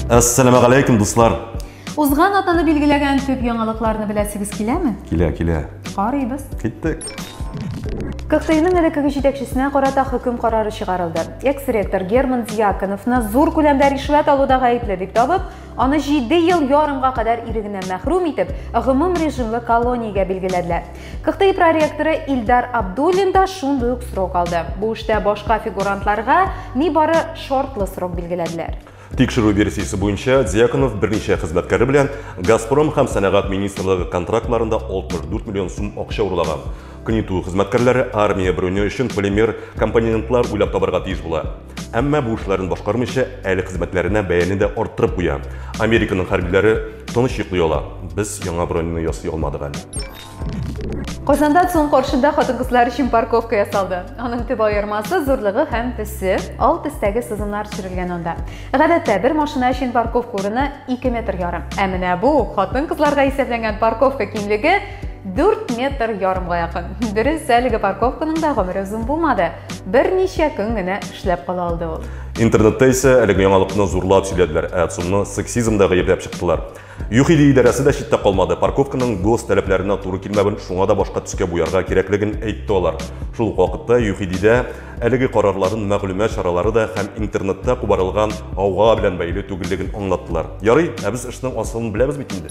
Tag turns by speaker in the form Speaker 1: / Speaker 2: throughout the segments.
Speaker 1: Ассаламу алейкум, дуслар. Узган атаны
Speaker 2: билгеләгән төп яңалыкларны беләсегез киләме? Килә, килә.
Speaker 1: Карыйбыз.
Speaker 2: Киттек. КХТИның элеккеге җитәкчесенә карата хөкем карары чыгарылды. Экс-ректор Герман Дьяконовны зур күләмдә ришвәт алуда гаепле дип табып, Аны җиде ел ярымга кадәр ирегеннән мәхрүм итеп, гомум режимлы колониягә билгеләделәр. КХТИ проректоры Илдар Абдуллин да шундый ук срок алды. Бу эштә башка фигурантларга нибары шартлы срок билгеләделәр. Тикшерү версиясе
Speaker 1: буенча, Дьяконов берничә хезмәткәре белән Газпром һәм сәнәгать министрлыгы контрактларында 64 миллион сум акча урлаган. КНИТУ хезмәткәрләре армия бронё өчен полимер компонентлар уйлап табарга тиеш була. Әмма бу эшләрен башкармыйча, әле хезмәтләренә бәяне дә арттырып куя. Американың хәрбиләре тыныч йоклый ала. Без яңа бронены ясый алмадык әле.
Speaker 2: Казанда ЦУМ каршында хатын-кызлар өчен парковка ясалды. Аның төп аермасы зурлыгы һәм төсе, ал төстәге сызымнар төшерелгән анда. Гадәттә бер машина өчен парковка урыны 2 метр ярым. Ә менә бу хатын-кызларга исәпләнгән парковка киңлеге 4 метр ярымга якын. Дөрес, әлеге парковканың да гомере озын булмады. Берничә көн генә эшләп кала алды ул. Интернетта исә
Speaker 1: әлеге яңалыкны зурлап сөйләделәр, ә Цунны сексизмда гаепләп чыктылар. ЮХИДИ идарәсе дә читтә калмады. Парковканың гос таләпләренә туры килмәвен, шуңа да башка төскә буярга кирәклеген әйтте алар. Шул ук вакытта ЮХИДИдә әлеге карарларын мәгълүмат чаралары да һәм интернетта кубарылган гауга белән бәйле түгеллеген аңлаттылар. Ярый, ә без эшнең асылын беләбез бит инде.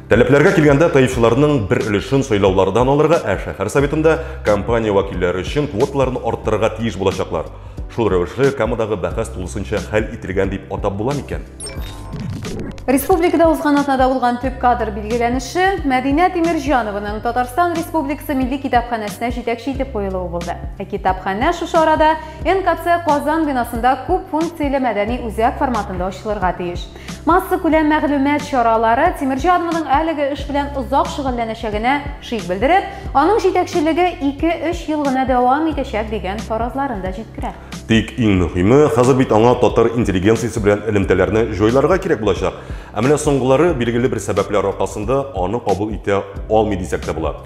Speaker 1: Таләпләргә килгәндә, ТАИФларның бер өлешен сайлаулардан алырга, ә шәһәр советында компания вәкилләре өчен квоталарны арттырырга тиеш булачаклар. Шул рәвешле Камадагы бәхәс тулысынча хәл ителгән дип атап була микән? Республикада
Speaker 2: узган атнада булган төп кадр билгеләнеше Мәдинә Тимирҗанованың Татарстан Республикасы милли китапханәсенә җитәкче итеп куелуы булды. Ә китапханә шушы арада НКЦ Казан бинасында күп функцияле мәдәни үзәк форматында ачылырга тиеш. Массакүләм мәгълүмат чаралары Тимерҗи Адмоның әлеге эш белән озак шөгыльләнәчәгенә шик белдереп, аның җитәкчелеге 2-3 ел гына дәвам итәчәк дигән фаразларын да җиткерә. Тик иң мөһиме,
Speaker 1: хәзер бит аңа татар интеллигенциясе белән элемтәләрне җайларга кирәк булачак. Ә менә соңгылары, билгеле бер сәбәпләр аркасында, аны кабул итә алмый дисәк тә була.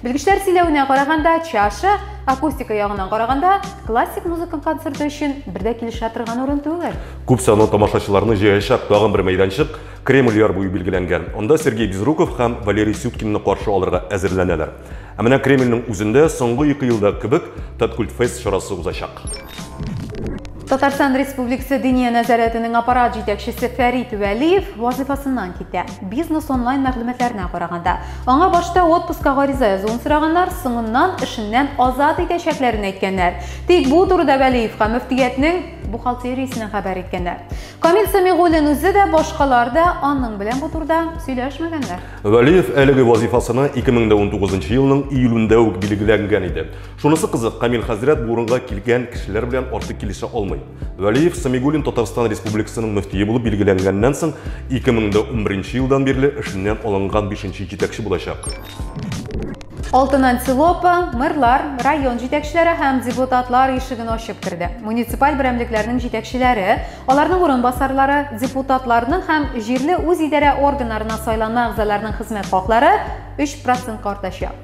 Speaker 2: Белгечләр сөйләвенә караганда, чаша, акустика ягыннан караганда, классик музыка концерты өчен бер дә килешә торган урын түгел. Күп санлы тамашачыларны
Speaker 1: җыячак тагын бер мәйданчык Кремль яр буе билгеләнгән. Анда Сергей Безруков һәм Валерий Сюткинны каршы алырга әзерләнәләр. Ә менә Кремльнең үзендә соңгы ике елдагы кебек Таткультфест чарасы узачак.
Speaker 2: Татарстан Республикасы Диния нәзарәтенең аппарат җитәкчесе Фәрит Вәлиев вазифасыннан китә. Бизнес онлайн мәгълүматларына караганда, аңа башта отпуска гариза язуын сораганнар, соңыннан эшеннән азат итәчәкләрен әйткәннәр. Тик бу турыда Вәлиевка мөфтиятнең бухгалтериясеннән хәбәр иткәннәр. Камил Самигуллин үзе дә, башкалар да аның белән бу турыда сөйләшмәгәннәр. Вәлиев әлеге
Speaker 1: вазифасына 2019 елның июлендә үк билгеләнгән иде. Шунысы кызык, Камил хәзрәт бу урынга килгән кешеләр белән артык килешә алмый. Вәлиев Самигуллин Татарстан Республикасының мөфтие булып билгеләнгәннән соң 2011 елдан бирле эшеннән алынган бишенче җитәкче булачак.
Speaker 2: Алтын антилопа, мэрлар, район җитәкчеләре һәм депутатлар ишеген ачып керде. Муниципаль берәмлекләрнең җитәкчеләре, аларның урынбасарлары, депутатларның һәм җирле үз идарә органнарына сайланма әгъзаларның хезмәт хаклары 3 процентка артачак.